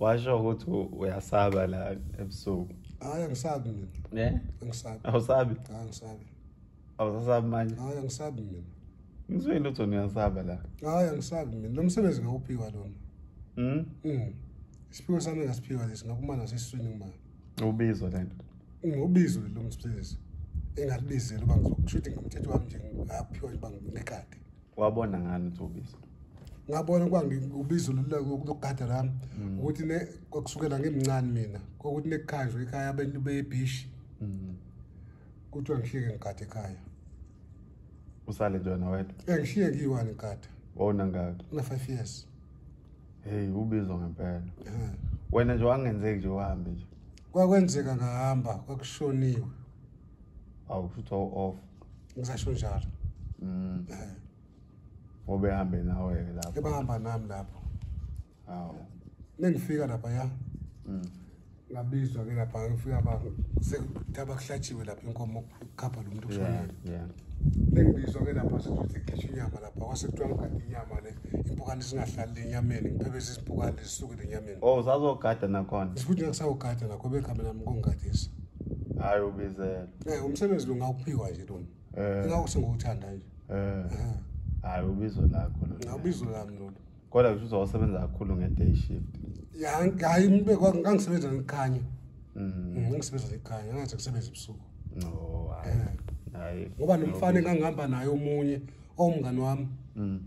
washo ukuthi uyasaba la ebusuku hayi angisabi mina ne angisabi awusabi hayi angisabi awusasabi manje hayi angisabi mina ngizwe lutho niyasaba la hayi angisabi mina lo msebenzi ngawuphiwa lona mhm mm. isiphiwo sami ngasiphiwa lesi ngakumana sesiswini ngimana ubizo lento ngobizo lo msebenzi engalibizela uba ngizokushuthi ngomthetho wami nje ngaphiwa uba ngumekade wabona ngani ukuthi ubizo ngabona ukuba ngibizo lokugada lami mm. ukuthi ne kusukela ngimncane mina kokuthi nekukhanjwe ekhaya abantu bebishi mm. kuthiwa ngihlike ngigade ekhaya usale nje wena wedwa engishiye eh, ngiyiwani ngigada wona ngaka na-five years hey ubizwa ngempela eh. wena nje wangenzeki nje uhambe nje kwakwenzeka ngahamba kwakushoniwe awu futhi off ngisasho njalo mm eh. ngoba ehambe nawe ke lapho ebahamba nami lapho awu nengifika lapha ya mm ngabizwa ke lapha ngifika ba sekutaba kuhlatshiwe lapha inkomo khapha lo muntu kushonile yeah nengibizwa ke lapha sekuthi khishwa inyama lapha kwase kuthiwa ngigade inyama le impukane singahlali lenyameni ngiphebeza izimpukane zisuke lenyameni oh sazogada nakhona sikuthi ngisawugada nakho bekhambela mkongadisa hayi ubizela eh umsebenzi lo ngawuphiwa nje lo eh. ngawu sengiwuthanda nje eh. eh hayi ubizo lakho lo ngabizo lami lo kodwa kusho uzosebenza kakhulu nge day shift ya hayi mbe ngangisebenza ngikhanya mhm mm, ngisebenza ngikhanya ngathi ngisebenza ebusuku no hayi eh. hayi ngoba nomfana engangihamba naye omunye owumngani wami mhm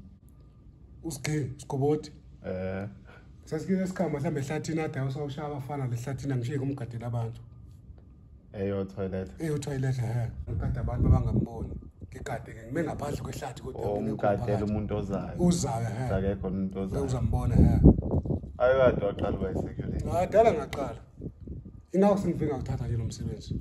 usigxile sigoboti eh sasikile esikhama mhlawumbe ehlathini ade usawushaya abafana lehlathini angishiye kumgadela abantu eyo toilet eyo toilet he ngigade abantu abangamboni ngigade ke ngime ngaphandle kwehlathi kodwa oh, ngigadela umuntu ozayo uzayo he akekho umuntu ozayo uzambona he ayo kade waqala uba isekuleni ngadala ngaqala ingakho sengifika ngithatha nje lo msebenzi